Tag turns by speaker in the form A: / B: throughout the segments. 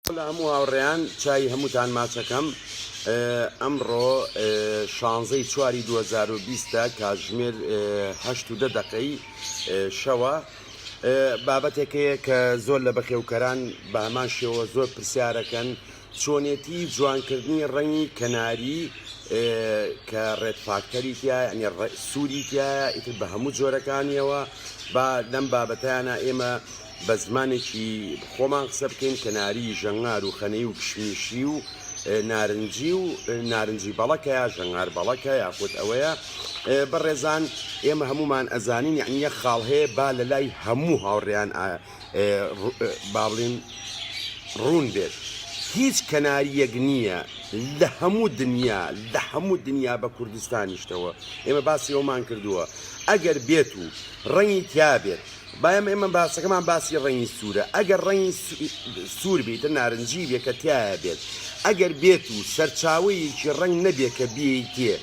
A: سڵاو لە هەموو هاوڕێیان چاوی هەمووتان ماچەکەم ئەمڕۆ شانزەی چواری 2020 کاتژمێر هەشت و دە دەقەی شەوە بابەتێک هەیە کە زۆر لە بەخێوکەران بە هەمان شێوە زۆر پرسیارەکەن چۆنێتی جوانکردنی ڕەنگی کەناری کە ڕێت فاکتەری تایە سووری تایە ئیتر بە هەموو جۆرەکانیەوە با لەم بابەتیانە ئێمە بە زمانێکی خۆمان قسە بکەین کەناری ژەنگار و خەنەی و کشمیشی و نارنجی و نارنجی بەڵەکە یا ژەنگار بەڵەکە یاخود ئەوەیە بەڕێزان ئێمە هەمومان ئەزانین یعنی یە خاڵ هەیە با لە لای هەموو هاوڕێیان باڵین ڕوون بێت هیچ کەناریەک نییە لە هەموو دنیا لە هەموو دنیا بە کوردستانیشتەوە ئێمە باسی ئەومان کردووە ئەگەر بێت و ڕەنگی تیا بێت بایم ئێمە باسەکەمان باسی ڕەنگی سوورە ئەگەر ڕەنگی سوور بیتە نارنجی بێ کە تایە بێت ئەگەر بێت و سەرچاوەیەکی ڕنگ نەبێت کە بێیتێ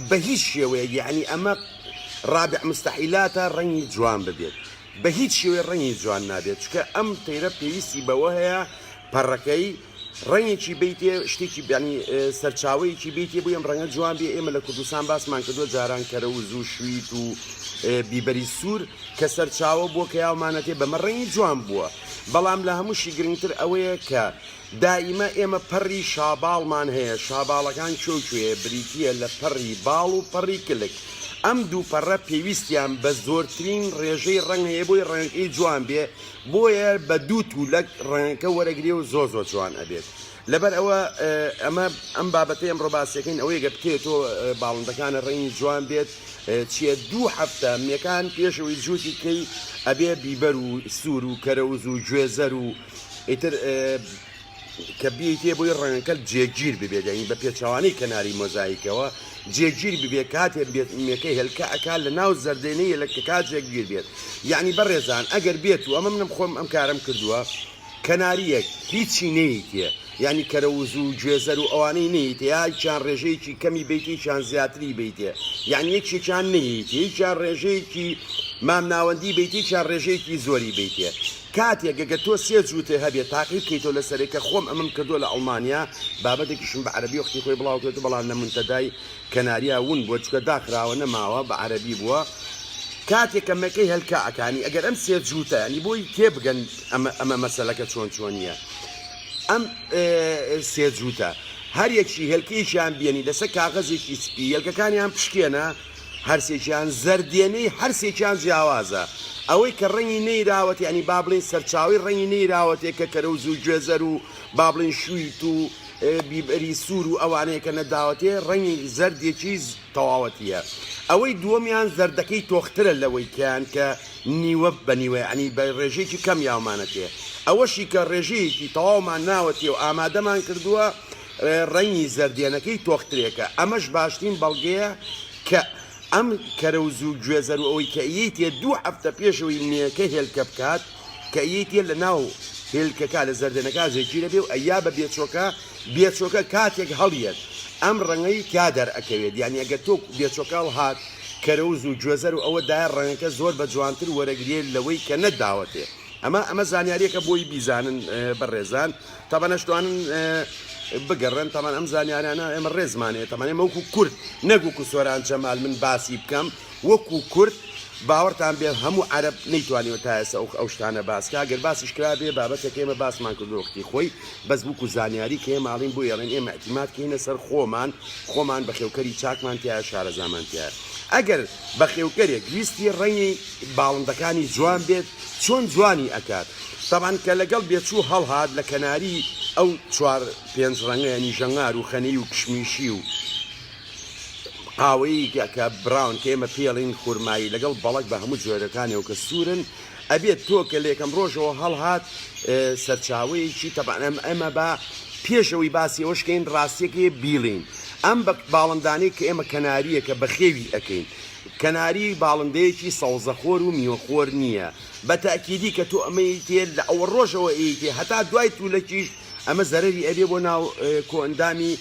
A: بە هیچ شێوەیە یعنی ئەمە ڕابع مستحیلاتە ڕەنگی جوان ببێت بە هیچ شێوەی ڕەنگی جوان نابێت چکە ئەم تەیرە پێویستی بەوە هەیە پەڕەکەی ڕەنگێکی بی تێ شتێکی بیانی سەرچاوەیەکی بی تێ بوو ئەم ڕەنگە جوان بێ ئێمە لە کوردستان باسمان کردووە جاران کەرە و زوو شویت و بیبەری سوور کە سەرچاوە بووە کە یاومانەتێ بەمە ڕەنگی جوان بووە بەڵام لە هەمووشی گرنگتر ئەوەیە کە دائیمە ئێمە پەڕی شاباڵمان هەیە شاباڵەکان چۆکوێ بریتە لە پەڕی باڵ و پەڕی کلک ئەم دوو پەڕە پێویستیان بە زۆرترین ڕێژەی ڕەنگەیە بۆی ڕەنگەکەی جوان بێ بۆیە بە دوو تولەک ڕەنگەکە وەرەگرێ و زۆر زۆر جوان ئەبێت لەبەر ئەوە ئەمە ئەم بابەتی ئەم ڕۆباسیەکەین ئەوەیە گە بکەێت تۆ باڵندەکانە ڕەنگی جوان بێت چیە دوو هەفتە مەکان پێشەوەی جووتی کەی ئەبێ بیبەر و سوور و کەرەوز و گوێزەر و ئیتر کە بیەیتێ بۆی ڕەنگەکەت جێگیر ببێت یعنی بە پێچەوانەی کەناری مۆزایکەوە جێگیر ببێت کاتێ بێت مێکە هێلکە ئەکا لە ناو زەردێنەی هێلکەکە جێگیر بێت یعنی بەڕێزان ئەگەر بێت و ئەمە منم خۆم ئەم کارم کردووە کەناریەک هیچی نەیتێ یعنی کەرە وزوو و گوێزەر و ئەوانەی نەیتێ یاکیان ڕێژەیەکی کەمی بیتێکیان زیاتری بیتێ یعنی یەکێکیان نەیتێ یەکیان ڕێژەیەکی مامناوەندی بیتێکیان ڕێژەیەکی زۆری بیتێ کاتێک گەگە تۆ سێ جووتێ هەبێ تاقی بکەیتەوە لەسەرێ کە خۆم ئەمەم کردووە لە ئەڵمانیا بابەتێکیشم بە عەرەبی وەختی خۆی بڵاو کرێتو بەڵام لە منتەدای کەناریا ون بووە چکە داخراوە نەماوە بە عەرەبی بووە کاتێک کە مەکەی هەلکا ئەکانی ئەگەر ئەم سێ جووتە ینی بۆی تێ بگەن ئەمە ئەمە مەسەلەکە چۆن چۆنیە ئەم سێ جووتە هەر یەکی هێلکەیەکیان بێنی لەسەر کاغەزێکی سپی یەلکەکانیان پشکێنە هەرسێکیان زەرد دێنەی هەرسێکیان جیاوازە ئەوەی کە ڕەنگی نەیراوەت یانی با بڵێین سەرچاوەی ڕەنگی نەیراوەتێ کە کەرەوز و گوێزەر و با بڵێین شویت و بیبەری سوور و ئەوانەیە کە نەداوەتێ ڕەنگی زەردێکی تەواوەتییە ئەوەی دووەمیان زەردەکەی تۆخترە لەوەی کەیان کە نیوە بە نیوە یانی بە ڕێژەیەکی کەم یاومانەتێ ئەوەشی کە ڕێژەیەکی تەواومان ناوەتێ و ئامادەمان کردووە ڕەنگی زەردێنەکەی تۆخترێکە، ئەمەش باشترین بەڵگەیە کە ئەم کەرەوز و گوێزەر و ئەوەی کە ئیەیتێ دوو هەفتە پێشەوەی مێەکە هێلکە بکات کە ئیەیتێ لە ناو هێلکەکە لە زەردێنەکە زێکیرەبێ و ئەیا بە بێچۆکە بێچۆکە کاتێک هەڵیەت ئەم ڕەنگەی تیا دەرئەکەوێت یانی ئەگەر تۆ بێچۆکە هەڵهات کەرەوز و گوێزەر و ئەوە دایە ڕەنگەکە زۆر بە جوانتر وەرەگرێ لەوەی کە نەتداوەتێ ئەمە ئەمە زانیاریەکە بۆی بیزانن بەڕێزان. تەبەن ئەشتوانن بگەڕێن تەمان ئەم زانیارانە ئێمە ڕێزمانەیە تەمان ئێمە وەکو کورد نەک وەکو سۆران جەمال من باسی بکەم وەکو کورد باوەڕتان بێ هەموو عرب نەیتوانیەوە تا ئێستا ئەو ئەو شتانە باسکە گەر باسیش کرا بێ بابەتێک ئێمە باسمان کردۆختی خۆی بەس وەکو زانیاری کە ماڵین بۆ یاڵێن ئێمە احتیمات کەینە سەر خۆمان خۆمان بە خێوکەری چاکمان تیا شارەزامانتیە ئەگەر بە خێوکەرێک ویستی ڕەنگی باڵندەکانی جوان بێت چۆن جوانی ئەکات تەبعەن کە لەگەڵ بێچوو هەڵهات لە کەناری ئەو چوار پێنج ڕەنگە یانی ژەنگار و خەنەی و کشمیشی و قاوەیی کە براون کە ئێمە پێڵین خورمایی لەگەڵ بەڵک بە هەموو جۆرەکانەوە کە سوورن ئەبێت تۆ کە لێکەم ڕۆژەوە هەڵهات سەرچاوەیەکی تەبانم ئەمە بە پێشەوەی باسی ئەوشکین ڕاستیەکەی بیڵین ئەم بە باڵندانەی کە ئێمە کەناریە کە بەخێوی ئەەکەین کەناری باڵندەیەکی سەوزەخۆر و میوەخۆر نییە، بە تەئکیدی کە تۆ ئەمە ئیتێ لە ئەوە ڕۆژەوە ئیتێ هەتا دوای تولەکیش ئەمە زەرەری ئەبێ بۆ ناو کۆئەندامی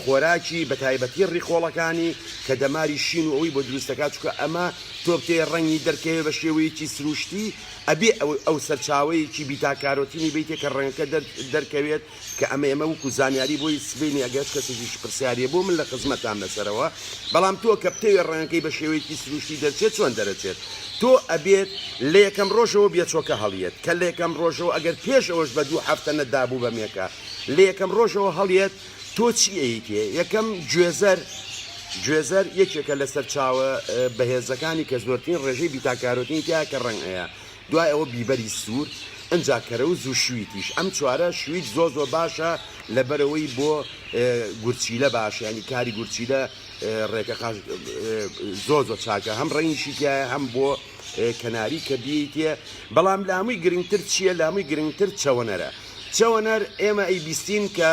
A: خۆراکی بە تایبەتی ڕیخۆڵەکانی کە دەماری شین و ئەوەی بۆ دروست دەکات چونکە ئەمە تۆ بتێ ڕەنگی دەرکەوێ بە شێوەیەکی سروشتی ئەبێ ئەو سەرچاوەیەکی بیتا کارۆتینی بیتێ کە ڕەنگەکە دەرکەوێت کە ئەمە ئێمە وەکو زانیاری بۆ هیچ سبەینێ ئەگەر هەچ کەسێکیش پرسیاری هەبوو من لە خزمەتام لەسەرەوە بەڵام تۆ کە بتەوێت ڕەنگەکەی بە شێوەیەکی سروشتی دەرچێت چۆن دەرەچێت تۆ ئەبێت لە یەکەم ڕۆژەوە بێچۆکە هەڵیێت کە لە یەکەم ڕۆژەوە ئەگەر پێش ئەوەش بە دوو هەفتە نەدابوو بە مێکە لە یەکەم ڕۆژەوە هەڵیێت تۆ چی ئەیکێ یەکەم گوێزەر گوێزەر یەکێکە لە سەرچاوە بەهێزەکانی کە زۆرترین ڕێژەی بیتاکارۆتینی تیا کە ڕەنگ ئەیە دوای ئەوە بیبەری سوور ئنجا کەرەوز و شویتیش ئەم چوارە شویت زۆر زۆر باشە لەبەرەوەی بۆ گورچیلە باشە ینی کاری گورچیلە ڕێکە قاش زۆر زۆر چاکە هەم ڕەنگیشی تایە هەم بۆ کەناری کە بیتە بەڵام لە هەمووی گرنگتر چییە لە هەمووی گرنگتر چەوەنەرە چەوەنەر ئێمە ئەی بیستین کە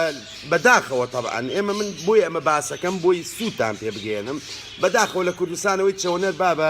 A: بەداخەوە تەبان ئێمە من بۆی ئەمە باسەکەم بۆی سووتان پێ بگەێنم بەداخەوە لە کوردستانەوەی چەوەنەر بابە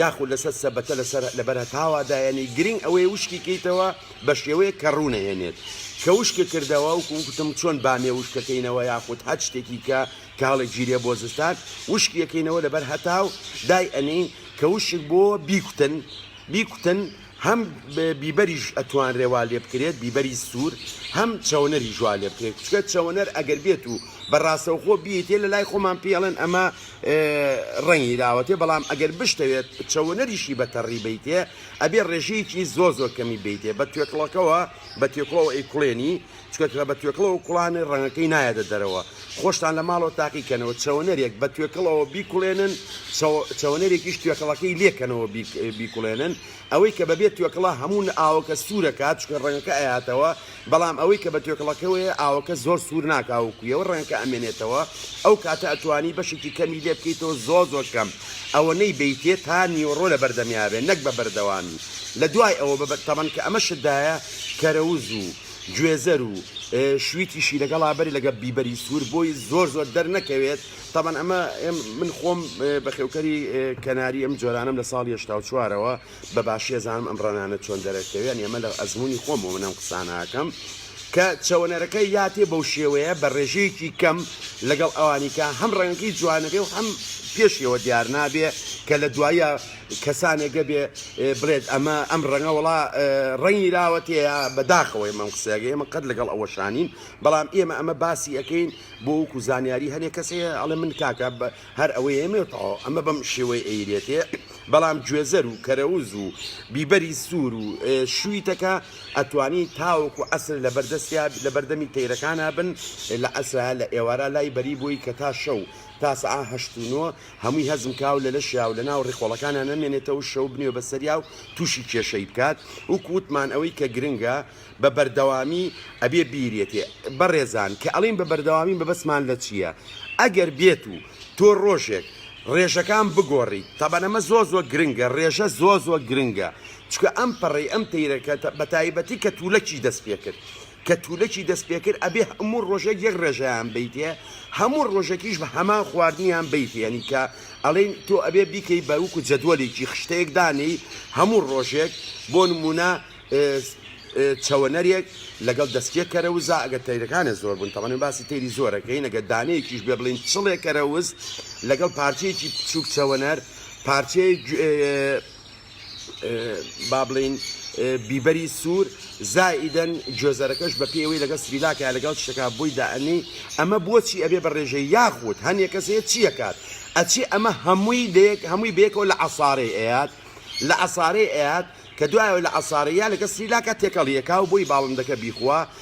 A: یاخود لەسەر سەبەتە لەسەر لەبەر هەتاوا دایەنی گرنگ ئەوەی وشکی کەیتەوە بە شێوەیە کە ڕوونەهێنێت کە وشکە کردەوە و کوکتم چۆن بامێ وشکەکەینەوە یاخود هەر شتێکی کە کاڵێک ژیرێ بۆ زستان وشکیەکەینەوە لەبەر هەتاو دای ئەنین کە وشک بۆ بیکوتن بیکوتن هەم بیبەریش ئەتوانرێ وا لێ بکرێت بیبەری سوور هەم چەوەنەریش وا لێ بکرێت چکە چەوەنەر ئەگەر بێت و بە ڕاستەوخۆ بیتێ لە لای خۆمان پێڵێن ئەمە ڕەنگی داوەتێ بەڵام ئەگەر بشتەوێت چەوەنەریشی بە تەڕی بیتێ ئەبێ ڕێژەیەکی زۆ زۆر کەمی بیتێ بە توێکڵەکەوە بە تێکڵەوە ئەی کوڵێنی چونکە کە بە توێکڵەوە کوڵانێ ڕەنگەکەی نایەتە دەرەوە خۆشتان لە ماڵەوە تاقیکەنەوە چەوەنەرێک بە توێکڵەوە بیکوڵێنن چەوەنەرێکیش توێکڵەکەی لێکەنەوە بیکوڵێنن ئەوەی کە بەبێت توێکڵە هەمون ئاوەکە سوورەکات چکە ڕەنگەکە ئەیاتەوە بەڵام ئەوەی کە بە توێکڵەکەوەیە ئاوەکە زۆر سوور ناکاوکویەوە ڕەنگەکە ئەمێنێتەوە ئەو کاتە ئەتوانی بەشێکی کەمی لێ بکەیتەوە زۆر زۆر کەم ئەوە نەی بیتێت تا نیوەڕۆ لە بەردەمیاێ نەک بە بەردەوامی لە دوای ئەوە بە تەمەن کە ئەمە شدایە کەرەوز و گوێزەر و شویتیشی لەگەڵا بەری لەگە بیبەری سوور بۆی زۆر زۆر دەرنەکەوێت تەبەن ئەمە من خۆم بەخێوکەری کەناری ئەم جۆرانم لە ساڵ هشتا و چوارەوە بە باشیە زانم ئەم ڕەنانە چۆن دەرەکەوێن ئەمە لە ئەزمموی خۆم بۆ منەم قساناکەم کە چەوەنەرەکە یاتێ بەو شێوەیە بە ڕێژەیەکی کەم لەگەڵ ئەوانیکە هەم ڕەنگەکەی جوانەبێ و هەم پێشیەوە دیار نابێ کە لە دوایە کەسانێ گە بێ بڵێت ئەمە ئەم ڕەنگە وەڵا ڕەنگی لاوەتەیە بە داخەوە ئێمە ئەم قسەیەگە ئێمە قەت لەگەڵ ئەوە شانین بەڵام ئێمە ئەمە باسی ئەەکەین بۆ وکو زانیاری هەنێ کەسەیە ئەڵێ من کاکە هەر ئەوەی ئێمێ تەواو ئەمە بەم شێوەی ئەیرێتێ بەڵام گوێزەر و کەرەوز و بیبەری سوور و شوویتەکە ئەتوانی تاوەکو ئەسر لە بەردەستیا لە بەردەمی تەیرەکانە بن لە ئەسرا لە ئێوارە لای بەری بووی کە تا شەو تا سەعە هەشت و نۆ هەمووی هەزم کا و لە لەشیا و لە ناو ڕیخۆڵەکانا نەمێنێتەوە و شەو بنێ بە سەریا و تووشی کێشەی بکات، وەکو وتمان ئەوەی کە گرنگە بە بەردەوامی ئەبێ بیرێتێ. بەڕێزان کە ئەڵێین بە بەردەوامی مەبەستمان لە چییە؟ ئەگەر بێت و تۆ ڕۆژێک ڕێژەکان بگۆڕیت، تەبەن ئەمە زۆر زۆر گرنگە، ڕێژە زۆر زۆر گرنگە، چونکە ئەم پەڕەی ئەم تەیرەکە بە تایبەتی کە توولەکی دەست پێ کرد، کە تولەکی دەست پێکرد ئەبێ هەموو ڕۆژێک یەک ڕێژەیان بەیتێ هەموو ڕۆژەکیش بە هەمان خواردنیان بەیتێ یانی کە ئەڵێن تۆ ئەبێ بیکەی بە وەکو جەدوەلێکی خشتەیەک دانێی هەموو ڕۆژێک بۆ نموونە چەوەنەرێک لەگەڵ دەستکێ کەرەوزا ئەگەر تەیرەکانت زۆر بوون تەمەن باسی تەیری زۆرەکەی نەگە دانەیەکیش بێ بڵین چڵێ کەرەوز لەگەڵ پارچەیەکی بچووک چەوەنەر پارچەیە با بڵێین بیبەری سوور زائیدەن گوێزەرەکەش بە پێوەی لەگەڵ سریلاکە لەگەڵ شتەکە بۆی دائەنی ئەمە بۆچی ئەبێ بە ڕێژە یاخود هەنێک کەسێ چیەکات ئەچی ئەمە هەمووی لەیەک هەمووی بێکەوە لە عسارەی ئەیات لە عسارەی ئەیات کە دوایەوە لە عسارەیە لەگە سریلاکە تێکەڵیەکە و بۆی باڵندەکە بیخوا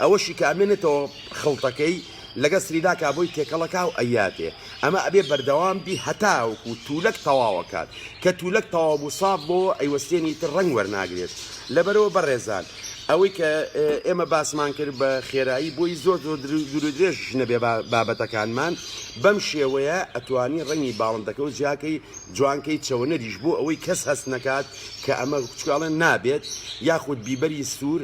A: ئەوەشی کە ئەمێنێتەوە خڵتەکەی لەگەڵ سریلانکا بۆی تێکەڵەکا و ئەیاتێ، ئەمە ئەبێ بەردەوام بی هەتاوەکو توولەک تەواو ئەکات، کە توولەک تەواو بوو ساف بۆوە ئەیوەستێنی ئیتر ڕەنگ وەرناگرێت، لەبەرئەوە بەڕێزان ئەوەی کە ئێمە باسمان کرد بە خێرایی بۆی زۆر زۆر دوورودرێژیش نەبێ بابەتەکانمان بەم شێوەیە ئەتوانی ڕەنگی باڵندەکە و جیاکەی جوانکەی چەوەنەریش بۆ ئەوەی کەس هەست نەکات کە ئەمە چکاڵێن نابێت یاخود بیبەری سوور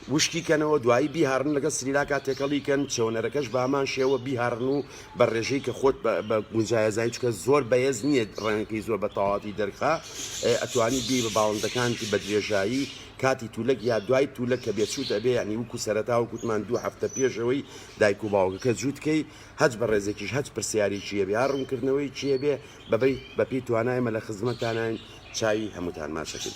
A: وشکی کەنەوە دوایی بیهاڕن لەگەڵ سریلاکا تێکەڵی کەن چێوەنەرەکەش بەهەمان شێوە بیهاڕن و بە ڕێژەی کە خۆت بە گونجایە زانی چکە زۆر بەێز نییە ڕەنگەکەی زۆر بە تەواتی دەرخا ئەتوانی بی بە باڵندەکانتی بە درێژایی کاتی تولەک یا دوای تولە کە بێچوت ئەبێ یعنی وکو سەرەتا و کوتمان دوو هەفتە پێشەوەی دایک و باوگەکە جووتکەی هەچ بە ڕێزێکیش هەچ پرسیاری چیە بێ ڕوونکردنەوەی چیە بێ بەبی بەپی توانایمە لە خزمەتاناین چاوی هەمووتان ماچەکەی.